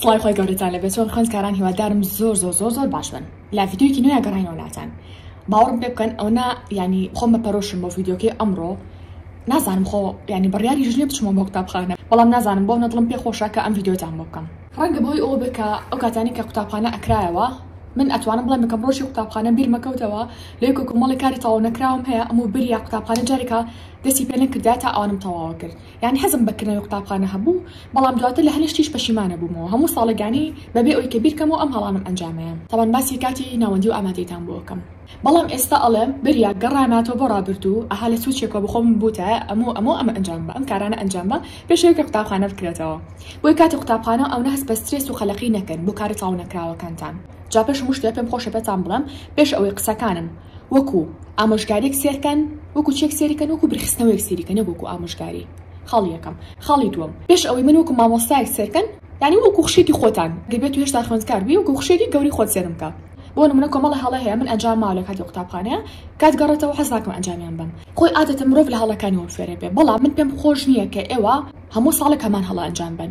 سڵاوی خۆی گەورەتان لەبێ چۆن خوێند کاران هیوادارم زۆر زۆر زۆر زۆر باش بن لا ڤیددیوکی نوێ گەڕینەوە ناتان باوەڕم پێ بکەن ئەو نا ینی خۆم بە پەرۆشم بۆ ڤیددیوکەی ئەمڕۆ نازانم خۆ ینی بڕیاری ژنێ بچمە بۆ قوتابخانە بەڵام نازانم بۆ نەدڵم پێ خۆشە کە ئەم ڤیددیوتان بۆ بکەم ڕەنگە بۆی ئەوە بێ کە ئەو کاتانی کە قوتابخانە ئەکرایەوە من ئەتوانم بڵێم بکەم ڕۆژی قوتابخانە بیرمەکەوتەوە لەی کۆکۆمەڵی کاری تەواو نەکراوم هەیە ئەم و بریا قوتابخانە جارێکە دەستی پێ نەکردای تا ئەوانم تەواوە کرد یانی حەزم بە کردنەوەی قوتابخانە هەبوو، بەڵام دواتر لە هەلەشتیش پەشیمانە بوومەوە هەموو ساڵێک یانی بە بێ ئەوی کە بیرکەمەوە ئەم هەڵانەم ئەنجامەیە تابان باسی کاتی ناوەندی و ئامادەیتان بۆ ئەکەم بەڵام ئێستا ئەڵێم بریا گەڕاماتەوە بۆ ڕابردوو ئەها لە سوچێکەوە بەخۆم بوتایە ئەمو ئەمو ئەمە ئەنجام بە ئەم کارانە ئەنجام بە پێش ئەوی کە قوتابخانە بکرێتەوە بۆی کاتی قوتابخانە ئەونە هەست بە سترێس و قەلەقی نەکەن بۆ کارە تەواو نەکراوەکانتان جا پێش هەموو شتێ پێم خۆشە پێتان بڵێم پێش ئەوەی قسەکانم وەکو ئامۆژگاریەک سێرکەن وەکو چێک سێریکەن وەکو برخستنەوەیەک سێریکە نەک وەکو ئامۆژگاری خاڵی یەکەم خاڵی دووەم پێش ئەوەی من وەکو مامۆستایەک سێرکەن یعنی وەکو خوشکێکی خۆتان گەر بێتو هێشتا خوێندکار بی وەکو خوشکێکی گەوری خۆت سێرم کە بۆ نمونە کۆمەڵە هەڵەی هەیە من ئەنجام ماوە لە کاتی قوتابخانەیە کات گەڕێتەوە حەز ناکەم ئەنجامیان بەم خۆی عادەتە مرۆڤ لە هەڵەکانی وە فێرە بێ بەڵام من پێم خۆش نییە کە ئێوە هەموو ساڵێک هەمان هەڵە ئەنجام بەن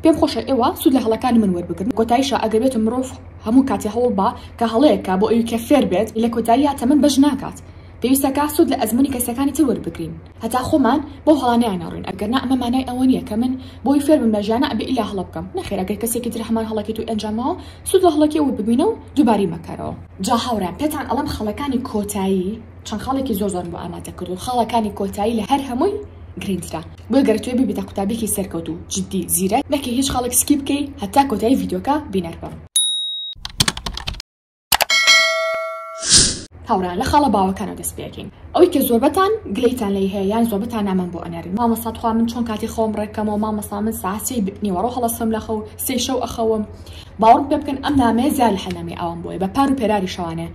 پێم خۆشە ئێوە سوود لە هەڵەکانی من وەربگرن کۆتایشە ئەگەر بێتو مرۆڤ هەموو کاتێ هەوڵ بە کە هەڵەیەک کا بۆ ئەوی کە فێر بێت لە کۆتاییا تەمەن بەش ناکات پێویستە کا سوود لە ئەزموونی کەسەکانی تر وەربگرین هەتا خۆمان بەو هەڵانەیا نەڕۆین ئەگەرنا ئەمە مانای ئەوە نیە کە من بۆی فێر بم لە ژیانا ئەبێ ئیلا هەڵە بکەم نەخێر ئەگەر کەسێکی تر هەمان هەڵەکەی تۆی ئەنجاماوە سوود لە هەڵەکەی ئەو وەربگوینە و دووبارەی مەکەرەوە. جا هاوڕێیان پێتان ئەڵێم خەڵەکانی کۆتایی. چەند خاڵێکی زۆر زۆرم بۆ ئامادە کردوون خاڵە کانی کۆتایی لە هەر هەمووی گرینترە بۆی گەرتوێ ببیتە قوتابیکی سەرکەوت و جدی زیرەک نەکەی هیچ خاڵێک سکی بکەی هەتا کۆتایی ڤیدۆکە بینەر بم. هاوران لە خاڵە باوەکانەوە دەست پێکەین ئەوی کە زۆربەتان گلەیتان لی هەیە یان زۆربەتان نامان بۆ ئەنەرن مامەسا تخوا من چۆن کاتی خۆم ڕێکەمەوە مامەسا من ساسی نیوەڕۆ هەڵەسم لە خەو سێ شەو ئەخەوم باوەڕ پێ بکەن ئەم نامەیە زیاد لە حەنامەی ئاوام بۆیە بە پار و پێراری شەوانێ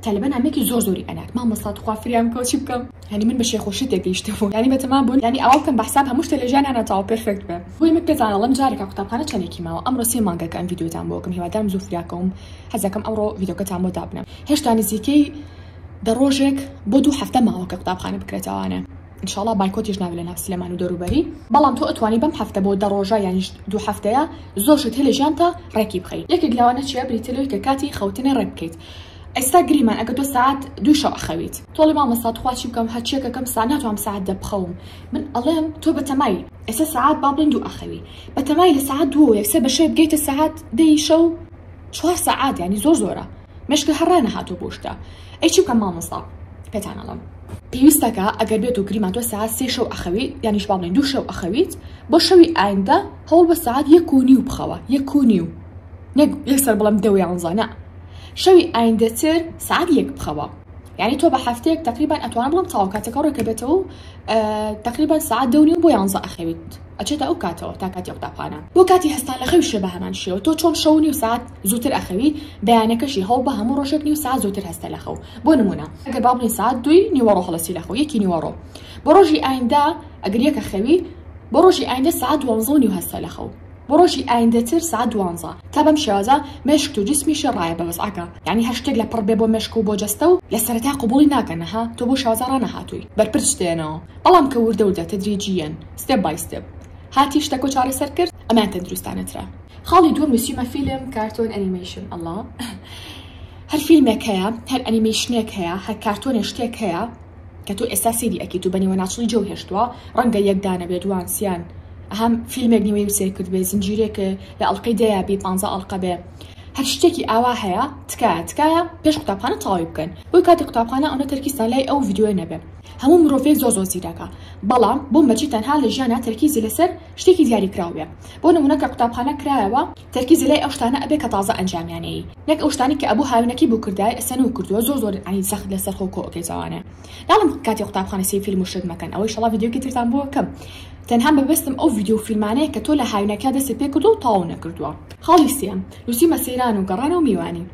تەلەبە نامەیەکی زۆر زۆری ئەنات مامۆستا تخوا فریام بکەوە چی بکەم یانی من بە شێخ و شتێ گەیشتە بوو یانی بەتەما بوون یانی ئاوا بکەم بە حساب هەموو شتێ لە ژیان ئەنا تاو پێرفێکت بێ بۆیە من پێتان ئەڵێم جارێکا قوتابخانە چەنێکی ماوە ئەمڕۆ سێ مانگە کە ئەم ڤیدیۆتان بۆ ئەکەم هیوادارم زوو فریاکەوم حەزەکەم ئەوڕۆ ڤیدیۆکەتان بۆ دابنێم هێشتا نزیکەی دە ڕۆژێک بۆ دوو هەفتە ماوە کە قوتابخانە بکرێتەوانە انشااللە بایکۆتیش نابێت لە ناو سلێمان و دەوروبەری. بەڵام تۆ ئەتوانی بەم هەفتە بۆ دە ڕۆژە یانیش دوو هەفتەیە زۆر شت هەیە لە ژیانتا ڕێکی بخەی یەکێک لەوانە چیە بریتیە لەوەی کە کاتی خەوتنێ ڕێک بکەیت ئێستا گریمان ئەگەر تۆ سەعات دووی شەو ئەخەویت تۆڵی مامۆستا توخوا چی بکەم هەرچیە کە کەم سا ناتوانم سەعات دە بخەوم من ئەڵێم تۆ بە تەمای ئێستا سەعات با بڵێن دوو ئەخەوی بە تەمای لە سەعات دووەوە یەکسەر بە شەوێ بگەیتە سەعات دەی شەو چوار سەعات یانی زۆر زۆرە مێشکە هەر ڕانەهاتوو بۆ شتە ئەی چی بکەم مامۆستا پێتان ئەڵێم پێویستەکە ئەگەر بێت و گریمان تۆ ساعت سێ شەو ئەخەوی یانیش باڵێن دوو شەو ئەخەویت بۆ شەوی ئایندە هەوڵ بە ساعت یەک و نیو بخەوە یەک و نیو نەک یەکسەر بڵم دەوێ ئەوزانە شەوی ئایندەتر ساعت یەک بخەوە یعنی تۆ بە هەفتەیەک تقریبان ئەتوان بڵم تاو کاتەکە ڕێکە بێتەوە و تقریبان ساعت دەونی و بۆ یانزە ئەخەویت ئەچێتە ئەو کاتەوە تا کاتی قوتابخانە بۆ کاتی هەستان لە خەوی شێ بە هەمان شێوە تۆ چۆن شەونی و ساعت زووتر ئەخەوی بەیانەکەشی هەوڵ بە هەموو ڕۆژێک نیو ساعەت زووتر هەستە لە خەو بۆ نمونە ئەگەر با بڵێین ساعەت دووی نیوەڕۆ هەڵەسی لە خەو یەکی نیوەڕۆ بۆ ڕۆژی ئایندا ئەگەر یەکە خەوی بۆ ڕۆژی ئایندە ساعەت دوانزە و نیو هەستە لە خەو بۆ ڕۆژی ئایندەتر ساعەت دوانزە تا بەم شێوازە مێشکت و جسمیشی ڕایە بە وەزعەکە یانی هەر شتێک لە پڕ بێ بۆ مێشک و بۆ جەستە و لە سەرەتا قبوڵی ناکەن ها تۆ بۆ شێوازە ڕانەهاتووی بەرپرس شتێنەوە بەڵام کە وردە وردە تەدریجییەن ستێپ بای ستێپ هاتی شتەکۆ چارەسەر کرد ئەمەیان تەندروستانە ترە. خاڵی دووەم نوسیومە فیلم کارتۆن ئەنیمەیشن ئەڵا هەر فیلمێک هەیە هەر ئەنیمەیشنێک هەیە هەر کارتۆنێ شتێک هەیە کە تۆ ئێستا سەیری ئەکەیت و بە نیوەناچڵی جێو هێشتووە ڕەنگە یەک دانە بێ دوان سیان ئەهەم فیلمێک نیوەی و سەیر کرد بێ زنجیرێکێ لە ئەڵلقەی دەیە بێ پانزە ئەڵلقە بێ هەر شتێکی ئاوا هەیە تکایە تکایە پێش قوتابخانە تەواوی بکەن بۆی کاتی قوتابخانە ئەونە تەرکیزتان لای ئەو ڤیدیۆیە نەبێ هەموو مرۆڤێک زۆر زۆر زیرەکە بەڵام بۆ مەچی تەنها لە ژیانا تەرکیزی لەسەر شتێکی دیاری کراو بێ بۆ نمونە کە قوتابخانە کرایەوە تەرکیزی لای ئەو شتانە ئەبێ کە تازە ئەنجامیان نەیی نەک ئەو شتانەی کە ئەبوو هاوینەکەی بۆ کردای ئەسەن و کردوە زۆر زۆر یانی سەخت لەسەر خۆ کۆ ئەکەی جاوانە ناڵم کاتی قوتابخانە سەیر فیلم و شت مەکەن ئەوە ئیشەڵا ڤیدیۆکی ترتان بۆ ئەکەم تەنها مەبەستم ئەو ڤیدیۆ و فیلمانەیە کە تۆ لە هاوینەکە دەستت پێ کردوە و تەواو نەکردوە. خاڵی سێیەم نوسیمە سەیران و گەڕان و میوانی.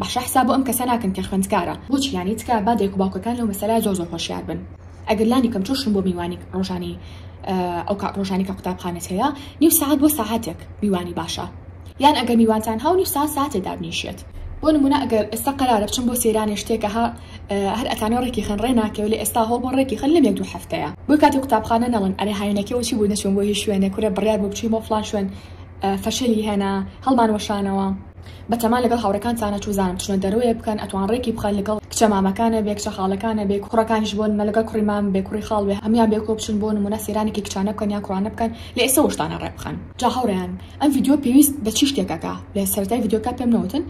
باشە حساب بۆ ئەم کەسە ناکەن کە خوێندکارە؟ بۆچی یانی تکایە با دایک و باوکەکان لەو مەسەلە زۆر زۆر هۆشیار بن ئەگەر لانی کەم چۆشن بۆ میوانی ڕۆژانی ئەو کات ڕۆژانی کە قوتابخانەت هەیە نیو سەعات بۆ سەعاتێک میوانی باشە یان ئەگەر میوانتان هەو نیو سەعات سەعاتێ دابنیشێت بۆ نمونە ئەگەر ئێستا قەرارە بچم بۆ سەیرانێ شتێکە ها هەر ئەتانەوە ڕێکی خەن ڕێ ناکەوێ لە ئێستا هەوڵ بۆ ڕێکی خەن لەم یەک دوو هەفتەیە بۆی کاتی قوتابخانە نەڵن ئەرێ هاوینەکەی وەچی بوو نەچووم بۆ هیچ شوێنێ کورە بڕیار بۆ بچووی بۆ فڵان شوێن فەشەلی هێنا هەڵمان وەشانەوە بەتەما لەگەڵ هاوڕێکانتانە چوزانم چنە دەرۆێ بکەن ئەتوان ڕێکی بخەن لەگەڵ کچە مامەکانە بێ کچە خاڵەکانە بێ کوڕەکانیش بۆ نمە لەگەڵ کوڕی مام بێ کوڕی خاڵ بێ هەموان بێ کۆ بچن بۆ نمونە سەیرانێکی کچانە بکەن یان کوڕانە بکەن لە ئێسە وشتانە ڕێ بخەن. جا هاوڕێیان ئەم ڤیدیۆ پێویست بە چی شتێکەکە لە سەرەتای ڤیدیۆکە پێم نەوتن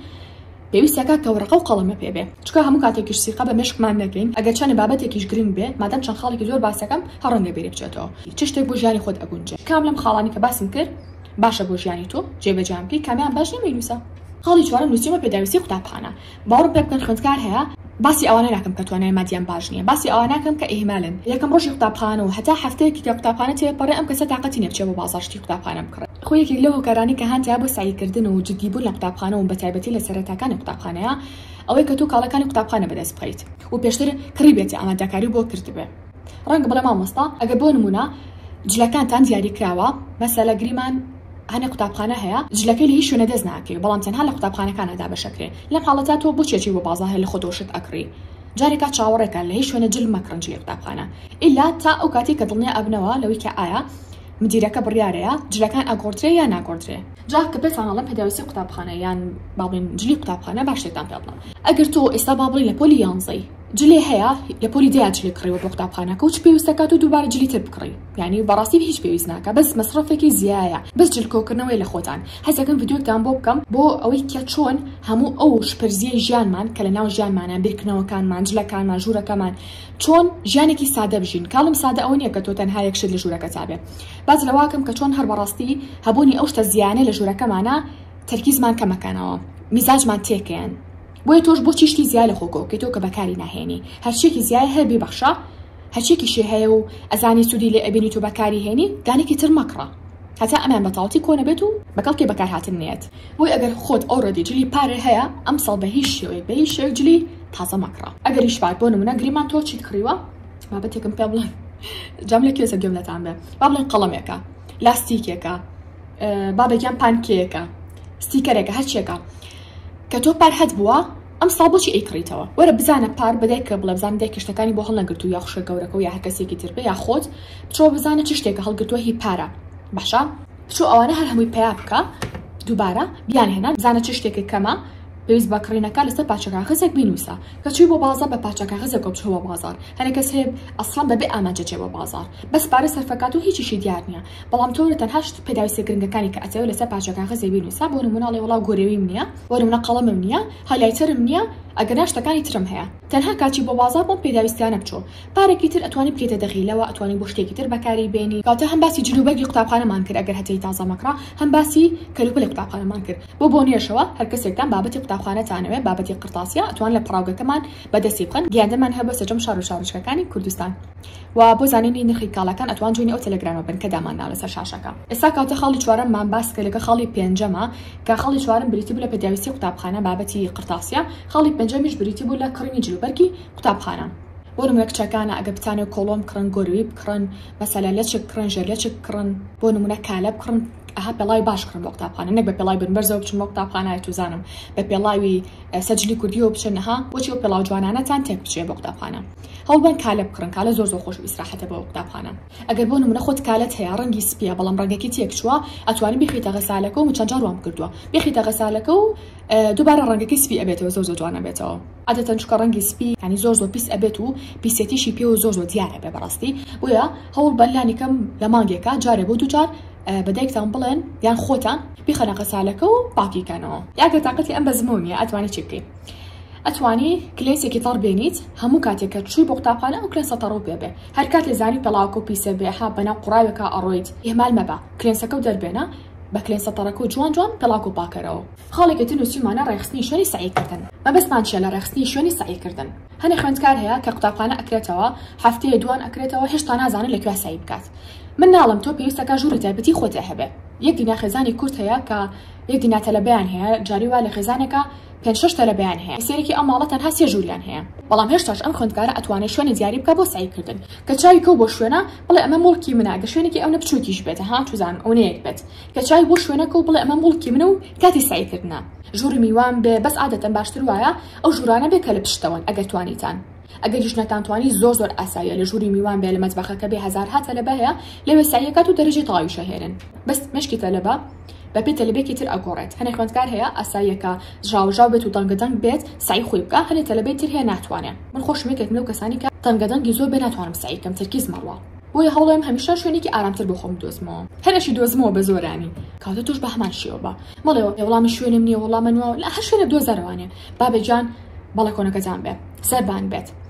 پێویستەکە کە وەرەقەو قەڵەمە پێ بێ چکا هەموو کاتێکیش سیقە بە مێشکمان نەکەین ئەگەر چەنە بابەتێکیش گرنگ بێ مادەم چەند خاڵێکی زۆر باسەکەم هەر ڕەنگە بیرێ بچێتەوە چ شتێک بۆ ژیانی خۆت ئەگونجێ کام لەم خاڵانی کە باسم کرد باشە بۆ ژیانی تۆ جێبەجێیان بکەی کامیان باش نیە مەینوسە. خاڵی چوارەم نوسیومە پێداویستی قوتابخانە باوەڕم پێ بکەن خوێندکار هەیە، باسی ئەوانە ناکەم کە توانای مادیان باش نیە باسی ئەوە ناکەم کە ئیهمالن یەکەم ڕۆژی قوتابخانەو هەتا هەفتەیەکی کە قوتابخانە تێپەڕێ ئەم کەسە تاقەتی نیە بچێ بۆ بازاڕ شتی قوتابخانە بکڕێ خۆی یەکێک لەو هۆکارانەی کە هانتایە بۆ سەعی کردن و جدی بوون لە قوتابخانە و بەتایبەتی لە سەرەتاکانی قوتابخانەیە ئەوەی کە تۆ کاڵەکانی قوتابخانە بەدەست بخەیت و پێشتر کڕیبێتە ئامادەکاری بۆ کردبێ. ڕەنگە بڵێ مامۆستا ئەگەر بۆ نمونە جلەکانتان دیاری کراوە مەسەلە گریمان هەنێ قوتابخانە هەیە جلەکەی لە هیچ شوێنە دەست ناکەوێت بەڵام تەنها لە قوتابخانەکانە دابەشەکرێ لەم حاڵەتا تۆ بۆ چێچی بۆ بازار هەیە لە خۆ دۆشت ئەکڕی جارێکا چاوەڕێکە لە هیچ شوێنە جل مەکڕن جلی قوتابخانە ئیلا تا ئەو کاتی کە دڵنیا ئەبنەوە لەوەی کە ئایا مدیرەکە بڕیارەیە جلەکان ئەگۆڕدرێ یا ناگۆڕدرێ جا کە پێتان ئەڵێم پێداویستی قوتابخانە یان باڵێن جلی قوتابخانە باشێتان پێ بڵێم ئەگەر تۆ ئێستا با بڵێ لە پۆلی یانزەی جلی هەیە لە پۆلی دەیا جلی کڕیوە بۆ قوتابخانەکە و چ پێویستە کات و دووبارە جلی تر بکڕی یعنی بەڕاستی هیچ پێویست ناکە بەس مەسڕەفێکی زیایە بەس جل کۆکردنەوەی لە خۆتان حەزەکەم ڤیدیۆکتان بۆ بکەم بۆ ئەوەی کە چۆن هەموو ئەو شپرزیەی ژیانمان کە لەناو ژیانمانە بیرکردنەوەکانمان جلەکانمان ژوورەکەمان چۆن ژیانێکی سادە بژین کاڵم سادە ئەوە نیە کە تۆ تەنها یەک شت لە ژوورەکەتا بێ باس لەوەکەم کە چۆن هەر بەڕاستی هەبوونی ئەو شتە زیانە لە ژوورەکەمانە تەرکیزمان کەمەکەنەوە میزاجمان تێکەیەن. بۆیە تۆش بۆ چیشتی زیای لە خۆکۆ کە تۆ کە بەکاری ناهێنی هەرچێکی زیای هەر بیبەخشە هەچێکی شێ هەیە و ئەزانی سوودی لێ ئەبینی تۆ بەکاری هێنی دانێکی تر مەکڕە هەتا ئەمان بەتاڵتی کۆنەبێت و بەکەڵکی بەکارهاتن نێت بۆی ئەگەر خۆت ئۆڕێدی جلی پارێ هەیە ئەمساڵ بە هیچ شێوەیەک بە هیچ شێوەیەک جلی تازە مەکڕە ئەگەریش پار بۆ نمونە گریمان تۆ چیت کڕیوە بابەتێکم پێ بڵێ جام لە کوێسە گوێم لەتان بێ با بڵێن قەڵەمێکە لاستیکێکە بابێکیان پانکێکە ستیکەرێکە هەرچێکە کە تۆ پار حەت بووە ئەم ساڵ بۆچی ئەی کڕیتەوە وەرە بزانە پار بە دایکە بڵێ بزانە دایکە شتەکانی بۆ هەڵنەگرتوو یا خوشکە گەورەکەو یا هەر کەسێکی تر بێ یا خۆت بچۆ بزانە چ شتێکە هەڵگرتووە هی پارە باشە بچۆ ئەوانە هەر هەمووی پیا بکە دووبارە بیان هێنا بزانە چ شتێکی کەمە پێویست بە کڕینەکە لەسەر پاچە کاغەزێک بینوسە کە چووی بۆ بازار بە پاچە کاغەزە کۆ بچۆوە بازار هەرە کەس هەیە ئەسڵان بەبێ ئامانجە چێ بۆ بازار بەس پارە سەرفەکات و هیچیشی دیار نییە بەڵام تۆ تەنها شت پێداویستە گرنگەکانی کە ئەتەوێ لەسەر پارچە کاغەزێ بینووسە بۆ نموونە ئەڵێ وەڵا گۆرێویم نییە بۆ نموونە قەڵەمم نییە هایلایتەرم نییە ئەگەرنا شتەکانی ترم هەیە تەنها کاچی بۆ بازاڕ بۆم پێداویستیانە بچۆ پارەکی تر ئەتوانی بکەیتە دەغی لەوە ئەتوانی بۆ شتێکی تر بەکاری بێنی واتە هەم باسی جل و بەرگی قوتابخانەمان کرد ئەگەر هەتەی تازە مەکڕە هەم باسی کەلوپەلی قوتابخانەمان کرد بۆ بۆنەیەشەوە هەر کەسێکتان بابەتی قوتابخانەتانەوێ بابەتی قڕتاسیە ئەتوان لە پەڕاوگەکەمان بەدەستی بخەن گیاندەمان هەبوە سەجەم شار و شارۆچکەکانی کوردستان. و بۆ زانینی نرخی کاڵاکان ئەتوان جوێنی ئەو تێلێگرامە بن کە دامانناوە لەسەر شاشەکە. ئێستا کەواتە خاڵی چوارەممان باس کرد لەکە خاڵی پێنجەمە کە خاڵی چوارەم بریتی بوو لە پێداویستی قوتابخانە بابەتی قرتاسیە خاڵی پێنجەمیش بریتی بوو لە کڕینی جل و بەرگی قوتابخانە بۆ نمونە کچەکانە ئەگەر بتانەوێت کۆڵۆن بکڕن گۆروی بکڕن مەسەلەن لەچک بکڕن ژێر لەچک بکڕن بۆ نمونە کالە بکڕن ئەها پێڵاوی باش بکڕن بۆ قوتابخانە نەک بە پێڵاوی بن بەرزەوە بچن بۆ قوتابخانە ئەتوزانم بە پێڵاوی سەجلی کوردیەوە بچن ها بۆچی ئەو پێڵاو جوانانەتان تێک بچێ بۆ قوتابخانە هەوڵبەن کالە بکڕن کالە زۆر زۆر خۆش و ئیسراحەتە بۆ قوتابخانە ئەگەر بۆ نمونە خۆت کالەت هەیە ڕەنگی سپیە بەڵام ڕەنگەکەی تێک چووە ئەتوانی بیخەیتە غەسالەکە و من چەند جار وام کردووە بیخەیتە غەسالەکە و دووبارە ڕەنگەکەی سپی ئەبێتەوە زۆر زۆر جوان ئەبێتەوە. عادەتەن چونکە ڕەنگی سپی یانی زۆر زۆر پیس ئەبێت و پیسیەتیشی پێوە زۆر زۆر دیار ئەبێ بەڕاستی بۆیە هەوڵ بەن لانی کەم لە مانگێکا جارێ بۆ دوو جار بە دایکتان بڵێن یان خۆتان بیخەنە غەسالەکە و پاکی کەنەوە. ئەگەر تاقەتی ئەم بەزمەو نیە ئەتوانی چی بکەی. ئەتوانی کلێسێکی تەڕ بێنیت هەموو کاتێک کە چووی بۆ قوتابخانە ئەو کلێنسە تەڕەو پێ بێ هەر کات لێ زانی پێڵاوەکە و پیسە بێ ها بەناو قوڕاوێکا ئەڕۆیت ئیهمال مەبە کلێنسەکە و دەربێنە بە کلێنسە تەڕەکە و جوان جوان پێڵاوەکە و پاکەرەوە. خاڵێکی تر نووسیومانە ڕێکخستنی شوێنی سەعیکردن مەبەستمان چیە لە ڕێکخستنی شوێنی سەعیکردن هەنێ خوێندکار هەیە کە قوتابخانە ئەکرێتەوە هەفتەیە دووان ئەکرێتەوە هێشتا نازانێ لە کوێ سەعی بکات من ناڵێم تۆ پێویستە کە ژووری تایبەتی خۆت هەبێ یەک دینا خێزانی کورد هەیە کە یەک دینا تەلەبەیان هەیە جاری وا لە خێزانێکا پێنج شەش تەلەبەیان هەیە کە سەیرێکی ئەم ماڵە تەنها سێ ژووریان هەیە بەڵام هێشتاش ئەم خوێندکارە ئەتوانێت شوێنی دیاری بکە بۆ سەعی کردن کە چاوی کەو بۆ شوێنە بڵێ ئەمە موڵکی منە گە شوێنێکی ئەونە بچووکیش بێتە ها توزان ئەونەیەک بێت کە چاوی بۆ شوێنەکە و بڵێ ئەمە موڵکی منە و کاتی سەعی کردنە ژووری میوان بێ بەس عادەتەن باشتر وایە ئەو ژوورانە بێ کە لە پشتەوەن ئەگەر توانیتان ئەگەریش نەتانتوانی زۆر زۆر ئاساییە لە ژووری میوان بێ لە مەتبەخەکە بێ هەزارها تەلەبە هەیە لەوێ سەعیەکات و دەرەجەی تەواویشەهێنن بەس مێشکی تەلەبە بەپێ تەلەبێکی تر ئەگۆڕێت هەنێ خوێندکار هەیە ئاساییە کە ژاوەژاو بێت و دەنگەدەنگ بێت سەعی خۆی بکا هەنێ تەلەبەی تر هەیە ناتوانێ من خۆشم یەکێکم لەو کەسانەی کە دەنگەدەنگی زۆر بێ ناتوانم سەعی بکەم تەرکیز مەڕوا بۆیە هەوڵێم هەمیشە شوێنێکی ئارامتر بۆ خۆم بدۆزمەوە هەر ئەشی دۆزمەوە بە زۆرانی کاتە تۆش بە هەمان شێوە بە مەڵێ وەڵا من شوێنم نییە وەڵا من وا لە هەر شوێنێک دۆزەرەوانێ بابە گیان بەڵێ کۆنەکەتان بێ سەربان بێت.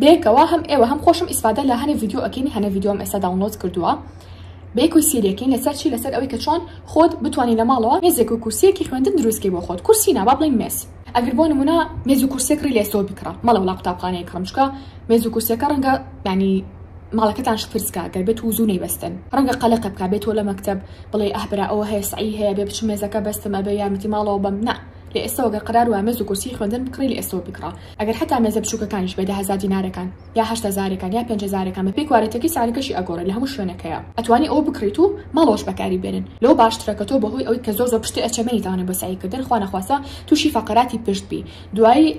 بەیەکەوە هەم ئێوە هەم خۆشم ئیسفادە لە هەنێ ڤیدیۆ ئەکەین هەنێ ڤیدیۆم ئێستا داونلۆد کردووە بەیەکوی سیرەکەین لەسەر چی لەسەر ئەوەی کە چۆن خۆت بتانی لە ماڵەوە مێزێک و کورسیەکی خوێندن دروستکەی بۆ خۆت کورسی نابا بڵین مێز ئەگەر بۆ نمونە مێز و کورسێک ڕی لێسەوە بکڕە مەڵە وڵا قوتابخانەیە کڕم چکە مێز و کورسەکە ڕەنگە ینی ماڵەکەتان شپرسکە گەر بێت و زوو نەیبەستن ڕەنگە قەلەقە بک بێتەوە لە مەکتب بڵێ ئەهبرا ئەوە هەیە سعی هەیە بێ بچ مێزەکە بەستم ئەبێ یارمەتی ماڵەوە بەم نە لە ئێستەوە گەر قرار وە مێز و کورسی خوێندن بکڕی لە ئێستەوە بکڕە ئەگەر حەتا مێزە بچوکەکانیش بێ دە هەزار دینارەکان یا هەشت هەزارەکان یا پێنج هەزارەکان بەپێی کوالێتیەکەی سعرەکەشی ئەگۆڕێ لە هەموو شوێنەکەیا ئەتوانی ئەوە بکڕیت و ماڵەوەش بەکاری بێنن لەوە باشترە کە تۆ بەهۆی ئەوەی کە زۆر زۆر پشتت ئەچێ مەیتوانی بۆ سەعی کردن خوا نەخواستە توشی فەقەراتی پشت بی دوایی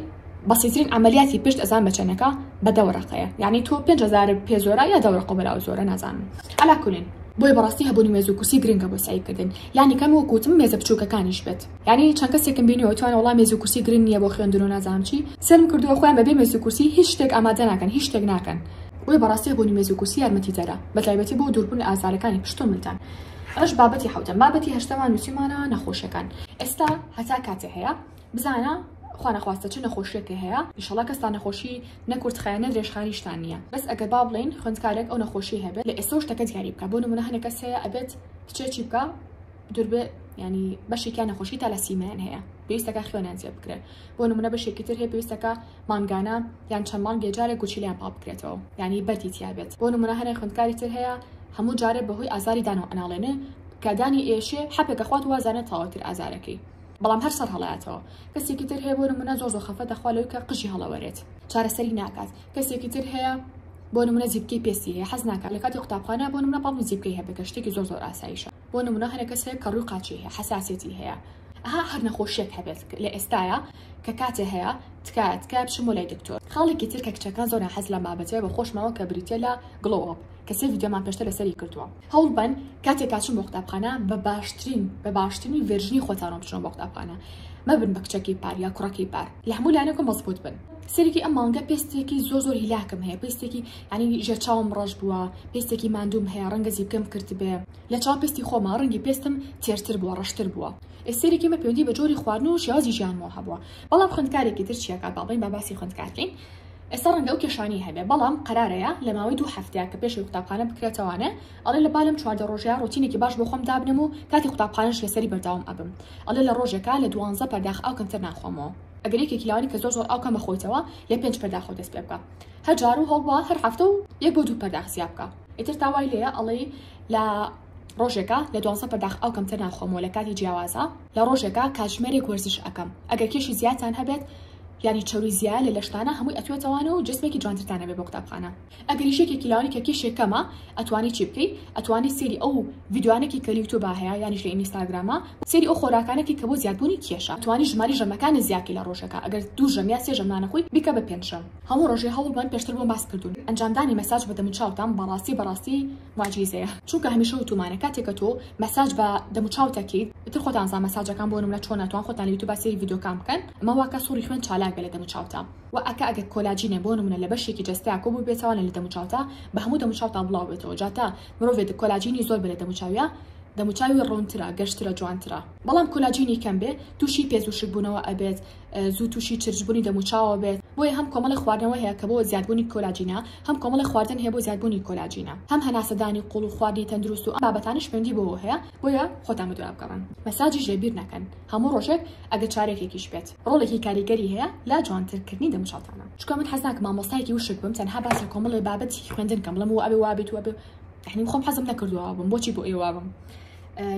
بەسیترین عەمەلیاتی پشت ئەزان بە چەنەکە بە دە وەرەقەیە یەعنی تۆ پێنج هەزارت پێ زۆرە یا دە وەرەقە بەلاوە زۆرە نازانم عەلا کولین بۆیە بەڕاستی هەبوونی مێزو کورسی گرنگە بۆ سەعی کردن لانی کەم وەکو وتم مێزە بچوکەکانیش بێت. یانی چەند کەسێکم بینیوە توانە وەڵا مێزو کورسی گرنگ نیە بۆ خوێندنو نازانم چی سێرم کردوە خۆیان بەبێ مێزو کورسی هیچ شتێک ئامادە ناکەن هیچ شتێک ناکەن. بۆیە بەڕاستی هەبوونی مێز و کورسی یارمەتی دەرە بەتایبەتی بۆ دووربوون لە ئازارەکانی پشتو ملدان ئەمەش بابەتی حەوتەم بابەتی هەشتەمان نوسیومانە نەخۆشیەکان ئێستا هەتا کاتێ هەیە بزانە خوا نەخواستە چ نەخۆشیەکێ هەیە ئیشەڵا کەستان نەخۆشی نە کورتخایەن نە درێژخایەنیشتان نیە بەس ئەگەر با بڵێین خوێندکارێک ئەو نەخۆشی هەبێت لە ئێستەو شتەکە دیاری بکە بۆ نمونە هەنێ کەس هەیە ئەبێت کچێ چی بکا دوربێ ینی بەشێکیان نەخۆشی تا لە سیمەیان هەیە پێویستەکە خوێنیان زیێ بکرێت بۆ نمونە بەشێکی تر هەیە پێویستەکە مانگانە یان چەند مانگێ جارێک گوچیلیان پاڵ بکرێتەوە ینی بەردی تیاابێت بۆ نمونە هەنێک خوندکاری تر هەیە هەموو جارێ بەهۆی ئازاری دانەوە ئەناڵێنێ کەدانی ئێشێ حەپێکە خوات وازانە تاوەتر ئازارەکەی بەڵام هەر سەر هەڵاتەوە کەسێکی تر هەیە بۆ نمونە زۆر زۆر خەفەتە خوا لەوکە قژی هەڵەوەرێت چارەسەری ناکات کەسێکی تر هەیە بۆ نمونە زیبکی پێستی هەیە حەز ناکات لە کاتی قوتابخانە بۆ نمونە پاڵ زیبکەی هەبێت کە شتێکی زۆر زۆر ئاساییشە بۆ نمونە هەنێ کەس هەیە کەڕوی قاچی هەیە حساسێتی هەیە ئەها هەر نەخۆشیێک هەبێت لە ئێستاە کە کاتێ هەیە تکایە تکایە بچم بۆ لای دکتۆر خاڵێکی تر کە کچەکان زۆر حەز لە مابەتێ بە خۆشمەوە کە بریتە لە گڵۆپ کە سێ ویددیۆمان پێشتە لەسەری کردووە هەوڵ بەن کاتێک کاچون بۆ قوتابخانە بە باشترین بە باشترین ڤێرژنی خۆتانەوە بچنەوە بۆ قوتابخانە مەبن بە کچەکەی پار یا کوڕەکەی پار لە هەموو لایەنەکە مەزبوط بن سەرکی ئەم مانگە پێستێکی زۆر زۆر هیلاکم هەیە پێستێکی یانی ژێر چاوم ڕەش بووە پێستێکی ماندووم هەیە ڕەنگە زیپکەم کرتبێ لە چاو پێستی خۆما ڕەنگی پێستم تێرتر بووە ڕەشتر بووە ئێستێرێکی مە پێوەندی بە جۆری خواردن و شێوازی ژیانمەوە هەبووە بەڵام خوێندکارێکی تر چیاکات با بڵێین با باسی خوێندکارکەین ئێستا ڕەنگە ئەو کێشانەی هەبێ بەڵام قەرارەیە لە ماوەی دوو هەفتەیە کە پێشەوەی قوتابخانە بکرێتەوانێ ئەڵێ لە با لەم چواردە ڕۆژەیا ڕۆتینێکی باش بۆ خۆم دابنێم و کاتی قوتابخانەش لەسەری بەردەوام ئەبم ئەڵێ لە ڕۆژێکا لە دوانزە پەرداخ ئاو کەمتر ناخۆمەوە ئەگەر یەکێکی لەوانی کە زۆر زۆر ئاو کەم ئەخۆیتەوە لە پێنج پەرداخەوە دەست پێ بکا هە جارو هەڵوا هەر هەفتە و یەک بۆ دوو پەرداخ زیا بکە ئیتر تا وای لێە ئەڵێی لە ڕۆژێکە لە دوازە پەرداخ ئەو کەمتر ناخۆمەوە لە کاتی جیاوازە لە ڕۆژێکە کاتژمێرێک وەرزش ئەەکەم ئەگەر کێشی زیاتان هەبێت یانی چەوری زیایە لە لەشتانە هەمووی ئەتوێتەوانە و جسمێکی جوانترتانە بێ بۆ قوتابخانە ئەگەری شێکێکی لاوانی کە کێشێک کەمە ئەتوانی چی بکەی ئەتوانی سێری ئەو ڤیددیوانێکی کە یوتوب هەیە یانیش لە ئینستاگرامە سێری ئەو خۆراکانێکی کە بۆ زیادبوونی کێشە توانی ژماری ژەمەکانی زیاکی لە ڕۆژەکە ئەگەر دوو ژەمیا سێ ژەمانەخۆی بیکە بە پێنج ژەم هەموو ڕۆژێ هەوڵ بەن پێشتر بۆم باس کردون ئەنجامدانی مەساج بە دەموچاوتان بەڕاستی بەڕاستی موعجیزەیە چونکە هەمیشە وتومانە کاتێ کە تۆ مەساج بە دەموچاوت ئەکیت ئیتر خۆتان زان مەساجەکان بۆ نمونە چۆنە توان خۆتان لە یوتوبا سەیری ڤیدۆکان بکەن ئەمە واکا سوڕی خوێن چالاک بێ لە دەموچاوتا وە ئەکا ئەگەر کۆلاجینێ بۆ نمونە لە بەشێکی جەستەیا کۆ بوبێتەوە نە لە دەموچاوتا بە هەموو دەموچاوتا بڵاو بێتەوە جا تا مرۆڤێ دە کۆلاجینی زۆر بێ لە دەموچاویا دەموچاوی ڕونترە گەشترە جوانترە بەڵام کۆلاجینی کەم بێ توشی پێست وشک بونەوە ئەبێت زوو تووشی چرچبوونی دەموچاوەوە بێت، بۆیە هەم کۆمەڵێک خواردنەوە هەیە کە بۆ زیادبوونی کۆلاجینە، هەم کۆمەڵێک خواردن هەیە بۆ زیادبوونی کۆلاجینە، هەم هەناسەدانی قوڵ و خواردنی تەندروست و ئەم بابەتانەش پەیوەندی بەوەوە هەیە، بۆیە خۆتان بە دوا بگەڕن، مەساجیش لێ بیر نەکەن هەموو ڕۆژێک ئەگەر چارەکێکیش بێت، ڕۆڵێکی کاریگەری هەیە لە جوانتر کردنی دەموچاوتانا. چونکە من حەز ناکەم مامۆستایەکی وشک بم تەنها باس لە کۆمەڵێ بابەتی خوێندن کەم بڵێم و ئەبێ وابێت و ئەبێ و یەعنی من خۆم حەزم نەکردووە وابم، بۆچی بۆ ئێوە وابم؟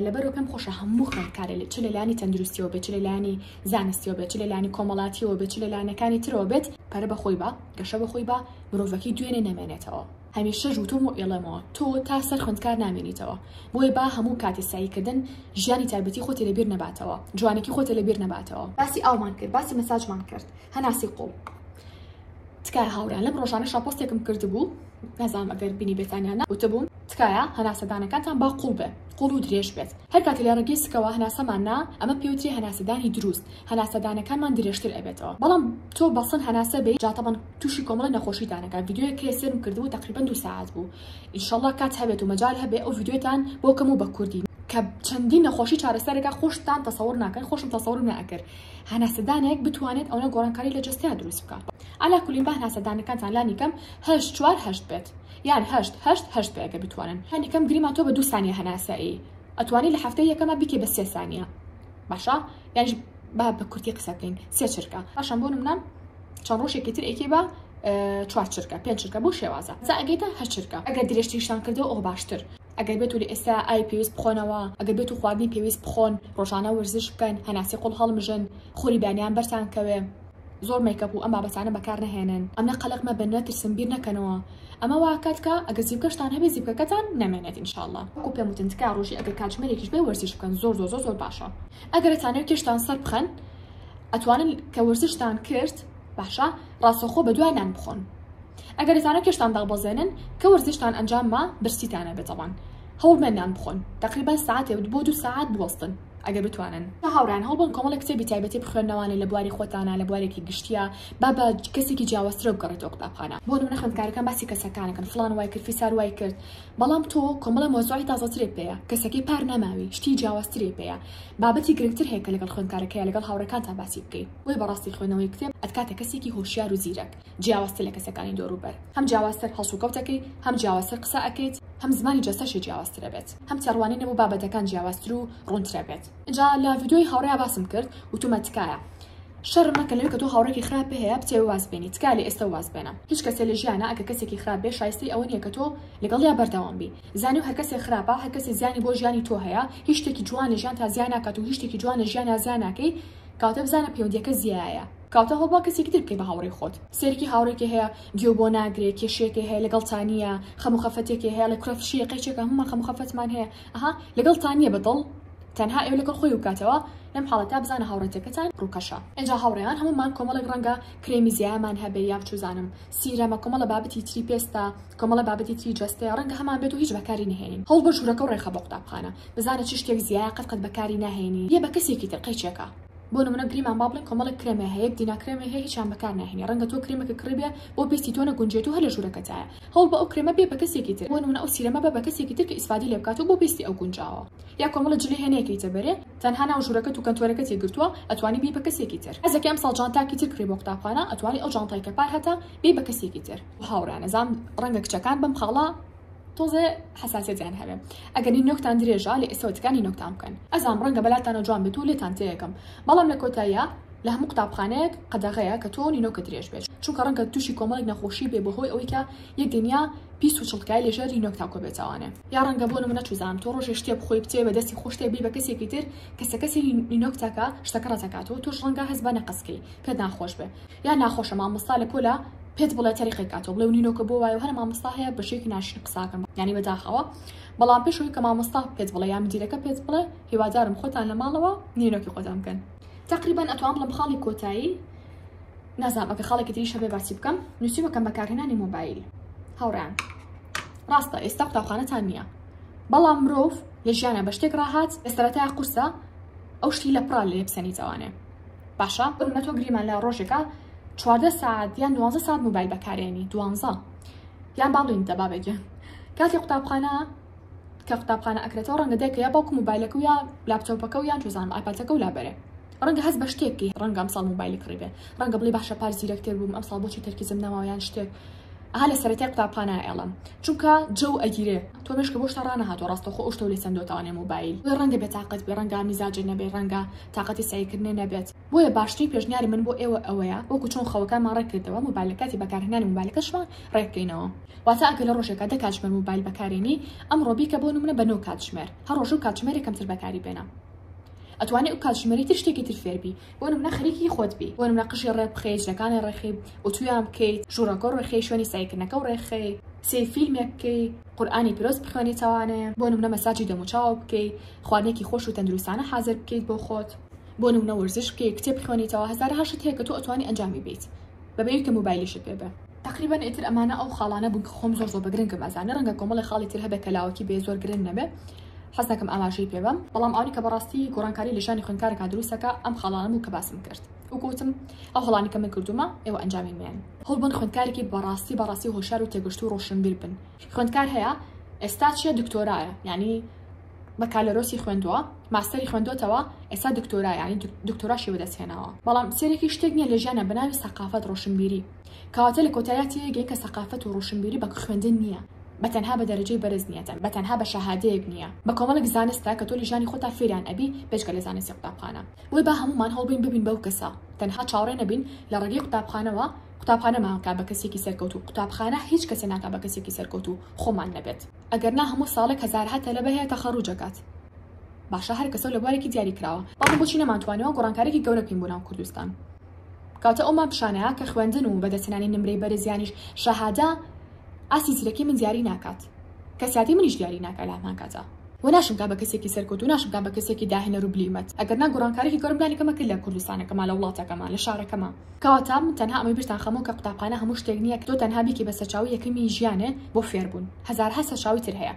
لەبەرو پێم خۆشە هەموو خوێندکارێ لێ چ لە لایەنی تەندروستیەوە بێت چ لە لایەنی زانستیەوە بێت چ لە لایەنی کۆمەڵاتیەوە بێت چ لە لایەنەکانی ترەوە بێت پەرە بە خۆی بە گەشە بە خۆی بە مرۆڤەکەی دوێنێ نەمێنێتەوە هەمیشەش وتوم و ئێڵێمەوە تۆ تا سەر خوێندکار نامێنیتەوە بۆیە با هەموو کاتی سەعیکردن ژیانی تایبەتی خۆتی لەبیر نەباتەوە جوانێکی خۆتە لەبیر نەباتەوە باسی ئاومان کرد باسی مەساجمان کرد هەناسی قوڵ تکایە هاورێیان لەم ڕۆژانە شاپۆستێکم کردبوو نازانم ئەگەر بینی بێتانیانە وتبووم تکایە هەناسەدانەکانتان با قوڵ بێ قوڵ و درێژ بێت هەر کاتێ لە ڕێگەی سکەوە هەناسەمان نا ئەمە پێوتری هەناسەدانی دروست هەناسەدانەکانمان درێژتر ئەبێتەوە بەڵام تۆ بەسن هەناسە بەی جا تەبەن توشی کۆمەڵی نەخۆشی دانەکە ڤیدیۆیەک هەیە سێرم کردبوو تەقریبەن دوو سەعات بوو ان شاءاللە کات هەبێت و مەجال هەبێ ئەو ڤیدیۆتان بۆ کەم و بە کوردی کە چەندین نەخۆشی چارەسەر ئەکا خۆشتان تەسەوڕ ناکەن خۆشم تەسەوڕم نە ئەکرد هەناسەدانێک بتوانێت ئەونە گۆڕانکاری لە جەستەیا دروست بکا عەلا کولین با هەناسەدانەکانتان لانی کەم هەشت چوار هەشت بێت. یان هەشت هەشت هەشت بێ ئەگەر بتوانن هەندی کەم گریمان تۆ بە دوو سانیە هەناسەی ئەتوانی لە هەفتەی یەکەمە بیکەی بە سێ سانیە باشە یانیش با بە کورتی قسە بکەین سێ چرکە باشە بۆ نمونە چەند ڕۆژێکی تر ئەیکەی بە چوار چرکە پێنج چرکە بۆ شێوازە جا ئەگەیتە هەشت چرکە ئەگەر درێژتریشتان کردەوە ئەو باشتر ئەگەر بێت و لە ئێستا ئای پێویست بخۆنەوە ئەگەر بێت و خواردنی پێویست بخۆن ڕۆژانە وەرزش بکەن هەناسەی قوڵ هەڵمژن خۆری بانیان بەرتان کەوێ زۆر مەیکەپ و ئەم بابەتانە بەکار نەهێنن ئەمە قەلەق مەبن نەترسن بیر نەکەنەوە ئەمە وا ئەکات کە ئەگەر زیپکەشتان هەبێ زیپکەکەتان نەمێنێت ان شاءاللە وەکو پێم وتن تکایە ڕۆژی ئەگەر کاتژمێرێکیش بێ وەرزش بکەن زۆر زۆر زۆر زۆر باشە ئەگەر ئەتانەوێ کێشتان سەر بخەن ئەتوانن کە وەرزشتان کرد باشە ڕاستەخۆ بە دوای نان بخۆن ئەگەر ئەتانە کێشتان دابەزێنن کە وەرزشتان ئەنجام ما برسیتانە بێتەوان هەوڵمێن نان بخۆن تقریبا ساعتێ بۆ دوو ساعت بوەستن ئەگەر بتوانن بە هاوڕێیان هەوڵبەن کۆمەڵێک کتێبی تایبەتی بخوێننەوانێ لە بواری خۆتانا لە بوارێکی گشتیا با بە کەسێکی جیاوازترەوە بگەڕێتەوە قوتابخانە بۆ نمونە خوێندکارەکان باسی کەسەکانەکەن فڵان وای کرد فیسار وای کرد بەڵام تۆ کۆمەڵە مەوزوعی تازەترێ پێیە کەسەکەی پار نەماوی شتی جیاوازترێ پێیە بابەتی گرنگتر هەیە کە لەگەڵ خوێندکارەکەیە لەگەڵ هاوڕێکانتا باسی بکەی بۆیە بەڕاستی خوێندنەوەی کتێب ئەتکاتە کەسێکی هۆشیار و زیرەک. جیاوازتر لە کەسەکانی دۆروبەر، هەم جیاوازتر هەڵسوکەوت ئەکەیت، هەم جیاوازتر قسە ئەکەیت، هەم زمانی جەستەشی جیاوازتر ئەبێت، هەم تێڕوانینە بۆ بابەتەکان جیاوازتر و ڕوونتر ئەبێت. ئینجا لە ڤیدیۆی هاوڕێیا باسم کرد وتومە تکایە شەرم مەکەن لەوەی کە تۆ هاوڕێکی خراپت هەیە بتەوێ واز بێنی تکایە لە ئێستە واز بێنە هیچ کەسێ لە ژیانا ئەگەر کەسێکی خراپ بێ شایستەی ئەوە نیە کە تۆ لەگەڵیا بەردەوام بی زانیو هەر کەسێ خراپە هەر کەسێ زیانی بۆ ژیانی تۆ هەیە هیچ شتێکی جوان لە ژیانتا زیا ناکات و هیچ شتێکی جوان لە ژیانا زیا ناکەی کەواتە بزانە پەیوەندیەکە زیایە. کاتە هەوڵ بە کەسێکی تر بکەی بە هاوڕێی خۆت سەیرکی هاوڕێکێ هەیە گوێ بۆ ناگرێ کێشێکێ هەیە لەگەڵ تانیە خەمو خەفەتێکێ هەیە لە کورە فشەیە قەیچێکە هەمومان خەمو خەفەتمان هەیە ئەها لەگەڵ تانیە بە دڵ تەنها ئێوە لەگەڵ خۆی وکاتەوە لەم حاڵەتە بزانە هاوڕێتەکەتان ڕووکەشە ئینجا هاوڕێیان هەمومان کۆمەڵێک ڕەنگە کرێمی زیایەمان هەبێ یان چوزانم سیرەمە کۆمەڵە بابەتی تری پێستە کۆمەڵە بابەتی تری جەستەیە ڕەنگە هەمان بێت و هیچ بەکاری نەهێنین هەوڵ بە ژوورەکە و ڕێخە بۆ قوتابخانە بزانە چ شتێک زیایە قەت قەت بەکاری ناهێنی یە بە کەسێکی تر قەیچێکە بۆ نمونە گریمان با بڵێن کۆمەڵێک کرێمێ هەیە دینا کرێمێ هەیە هیچیان بەکار ناهێنی ڕەنگە تۆ کرێمەکە کڕی بێ بۆ پێستی تۆ نەگونجێت و هەر لە ژوورەکەتایە هەوڵ بە ئەو کرێمە بێ بە کەسێکی تر بۆ نمونە ئەو سیرەمە بە بە کەسێکی تر کە ئیسفادەی لێ بکات و بۆ پێستی ئەو گونجاوە یا کۆمەڵە جلی هەیە نەیکەیتە بەرێ تەنها ناو ژوورەکەت و کەنتۆرەکەت ی گرتووە ئەتوانی بی بە کەسێکی تر حەزەکەی ئەمساڵ جانتاکی تر کڕی بۆ قوتابخانە ئەتوانی ئەو جانتای کە پار هەتە بی بە کەسێکی تر هاوڕێیان ئەزانم ڕەنگە کچەکان بەم خاڵە تۆزێ حەساسیەتیان هەبێ ئەگەر نینۆکتان درێژە لە ئێستەوە تکا نینۆکتان بکەن ئەزانم ڕەنگە بەلاتانەوە جوان بێت و لێتان تێیەکەم بەڵام لە کۆتاییا لە هەموو قوتابخانەیەک قەدەغەیە کە تۆ نینۆکت درێژ بێت چونکە ڕەنگە تووشی کۆمەڵێک نەخۆشی بێ بەهۆی ئەوەی کە یەک دنیا پیس و چڵکای لەژێر نینۆک تاکۆ بێتاوانێ یا ڕەنگە بۆ نموونە چوزانم تۆ ڕۆژێ شتێ بخۆی بچێ بە دەستی خۆش شتێک بی بە کەسێکی تر کەسە کەسی نینۆک تاکە شتەکە ڕەت ئەکاتەوە تۆش ڕەنگە هەست بە نەقەس کەی پێت ناخۆش بێ یا ناخۆشە مامۆستا لە پۆلە پێت بڵێ تەریقێک کاتۆ بڵێ و نینۆکە بۆ وایە هەر مامۆستا هەیە بە شێکی ناشرین قساکەم یانی بەداخەوە بەڵام پێش ئەوی کە مامۆستا پێت بڵێ یا مدیرەکە پێت بڵێ هیوادارم خۆتان لە ماڵەوە نینۆکی خۆتان بکەن تقریبا ئەتوان بڵم خاڵی کۆتایی نازام ئەگە خاڵێکی تری شەبێ باسی بکەم نووسیوەکەم بەکارهێنانی مۆبایل هاوڕان ڕاستە ئێستا قوتابخانەتان نییە بەڵام مرۆڤ لە ژیانە بە شتێک ڕاهات ئێستا تا قورسە ئەو شتی لە پڕال لێ بسەنی جوانێ باشە بمە تۆ گریمان لە ڕۆژێکە چواردە ساعت یان دوانزە ساعت موبایل بەکارێنی دوانزە یان باڵین دە بابێکی کاتی قوتابخانە کە قوتابخانە ئەکرێتەوە ڕەنگە دەکە یا باوکو موبایلەکە و یا لاپتۆپەکە و یان توزانم ئاپاتەکە و لابەرێ ڕەنگە هەست بە شتێکی ڕەنگە ئەمساڵ موبایلی کڕی بێ ڕەنگە بڵی باشە پار زیرەکتر بووم ئەمساڵ بۆچی تەرکیزم نەماوە یان شتێک ئەها لە سەرەتای قوتابخانە ئەیڵم چونکە جەو ئەگیرێ تۆ مێشکە بۆشتا ڕانەهاتۆ ڕاستە خۆ ئەوشتەو لێ سندۆتەوانێ موبایل بۆ ڕەنگە بێ تاقەت بێ ڕەنگە میزاجێ نەبێ ڕەنگە تاقەتی سەیرکردنێ نەبێت بۆیە باشترین پێشنیاری من بۆ ئێوە ئەوەیە وەکو چۆن خەوەکانمان ڕێک کردەوە موبایل لە کاتی بەکارهێنانی موبایلەکەشمان ڕێک بکەینەوە واتە ئەگەر لە ڕۆژێکا دە کاتژمێر موبایل بەکارێنی ئەمڕۆ بیکە بۆ نمونە بە نۆ کاتژمێر هەر ڕۆژەو کاتژمێرێ کەمتر بەکاری بێنە ئەتوانی ئەو کاتژمێرەی تر شتێکی تر فێر بی بۆ نمونە خەریکی خۆت بی بۆ نمونە قژی ڕێک بخەی جلەکانی ڕێخی ئوتویان بکەیت ژوورەکە ڕێخی شوێنی سەعیکردنەکە و ڕێخەی سێ فیلمێک بکەی قورآانی پیرۆز بخوێنیتەوانێ بۆ نمونە مەساجی دەموچاو بکەی خواردنێکی خۆش و تەندروستانە حازر بکەیت بۆ خۆت بۆ نمونە وەرزش بکەی کتێب بخوێنیتەوە هەزارها شت هەیە کە تۆ ئەتوانی ئەنجامی بیت بەبێ ئەوی کە موبایلیشت پێ بێ تەقریبەن ئیتر ئەمانە ئەو خاڵانە بوون کە خۆم زۆر زۆر بە گرنگم ئەزانی ڕەنگە کۆمەڵێ خاڵی تر هەبێ کە لاوەکی بێ زۆر گرنگ نەبێ حەز ناکەم ئاماژەی پێ بەم بەڵام ئەوانی کە بەڕاستی گۆڕانکاری لە ژیانی خوێندکارەکە دروست دەکا ئەم خاڵانە بوو کە باسم کرد و گوتم ئەو هەڵانەی کە من کردوومە ئێوە ئەنجامی مێن هەوڵ بن خوێندکارێکی بەڕاستی بەڕاستی هۆشیار و تێگەشتوو و ڕۆشنبیر بن خوێندکار هەیە ئێستا چیە دکتۆرایە یعنی بەکالۆرۆسی خوێندووە ماستەری خوێندۆتەوە ئێستا دکتۆرا یعنی دکتۆراشی بەدەست هێناوە بەڵام سێرەکی شتێک نییە لە ژیانە بە ناوی سەقافەت ڕۆشنبیری کەواتە لە کۆتاییا تێگەین کە سەقافەت و ڕۆشنبیری بە خوێندن نییە، بە تەنها بە دەرەجەی بەرز نییە، بە تەنها بە شەهادەیەک نییە، بە کۆمەڵێک زانستە کە تۆ لە ژیانی خۆتا فێریان ئەبی بێجگە لە زانستی قوتابخانە. بۆیە با هەموومان هەوڵبەین ببین بەو کەسە، تەنها چاوەڕێ نەبین لە ڕێگەی قوتابخانەوە، قوتابخانەمان بکات بە کەسێکی سەرکەوتوو، قوتابخانە هیچ کەسێ ناکات بە کەسێکی سەرکەوتوو خۆمان نەبێت، ئەگەر نا هەموو ساڵێک هەزارەها تەلەبە هەیە تەخەڕوج ئەکات، باشە هەر کەسە و لە بوارێکی دیاری کراوە، بەڵام بۆچی نەمانتوانیوە گۆڕانکارێکی گەورە بکەین بۆ ناو کوردستان؟ کەواتە ئەو ماکشانە کە خوێندن و بەدەستهێنانی نمرەی بەرز یانیش شەهادە ئاستی زیرەکی من دیاری ناکات، کەسیاتی منیش دیاری ناکات لە هەمان کاتا. وە ناشمکات بە کەسێکی سەرکەوتوو، ناشمکات بە کەسێکی داهێنەر و بلیمەت، ئەگەر نا گۆڕانکاریێکی گەورەم دانیکەمە کرد لە کوردستانەکەمان، لە وڵاتەکەمان، لە شارەکەمان. کەواتە من تەنها ئەمەی بیرتان خەمەوە کە قوتابخانە هەموو شتێک نییە کە تۆ تەنها بیکەی بە سەرچاوەی یەکەمی ژیانێ بۆ فێربوون، هەزارەها سەرچاوەی تر هەیە.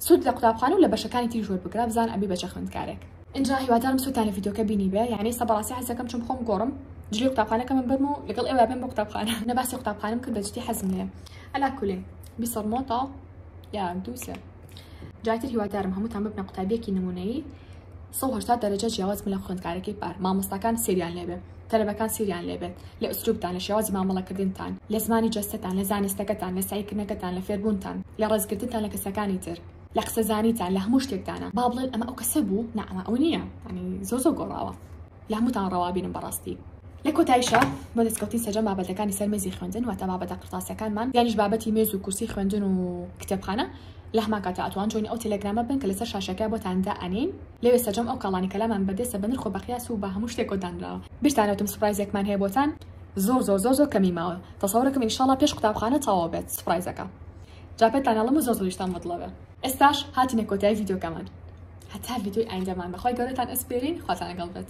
سوود لە قوتابخانە و لە بەشەکانی تریش وەربگرە، بزان ئەبی بە چە خوێندکارێک. ئینجا هیوادارم سوودتان لە ڤیدیۆکە بینیبێ یانێ سە بەڕاستی حەز دەکەم چون بخۆم گۆڕم جلی قوتابخانەکەمم بەرم و لەگەڵ ئێوە بێم بۆ قوتابخانە نە باسی قوتابخانەم کرد بەجدی حەزم لێیە عەلا کولین بیسەڵ مۆتاڵ یا دوو سێ جاتر هیوادارم هەمووتان ببنە قوتابیەکی نمونەیی 1970 دەرەجە جیاواز من لە خوێندکارەکەی پار مامۆستاکان سریان لێبێ تەلەبەکان سریان لێبێت لە ئوسلوبتان لە شێوازی مامەڵەکردنتان لە زمانی جەستەتان لە زانستەکەتان لە سعیکردنەکەتان لە فێربوونتان لە ڕێزگرتنتان لە کەسەکانی تر لە قسە زانیتان لە هەموو شتێکدانە با بڵێن ئەمە ئەو کەسە بوو نا ئەمە ئەو نییە ینی زۆر زۆر گۆڕاوە لە هەمووتان ڕەوابینم بەڕاستی لە کۆتایشە بۆ دەستکەوتی سەرجەم بابەتەکانی سەر مێزی خوێندن واتە بابەتە قرتاسیەکانمان یانیش بابەتی مێز و کورسی خوێندن و کتێبخانە لە هەمان کاتا ئەتوان جوینی ئەو تەلەگرامە بن کە لەسەر شاشەکە بۆتان دا ئەنین لەوێ سەرجەم ئەو کاڵانی کەلامان بەردەستە بە نرخ و بەقیاس و بە هەموو شتێک کۆ دانراوە بیرتانەوتم سوپرایزێکمان هەیە بۆتان زۆر زۆر زۆر زۆر کەمی ماوە تەسەورەکەم ئینشاڵا پێش قوتابخانە تەواو بێت سوپرایزەکە جا پێتان ئەڵێم و زۆر زۆریشتان مەتڵەبە. ئێستاش هاتینە کۆتایی ڤیدیۆکەمان هەتا ڤیدیۆی ئایندەمان بەخوای گەورەتان ئەسپێرین خواتان لەگەڵ بێت.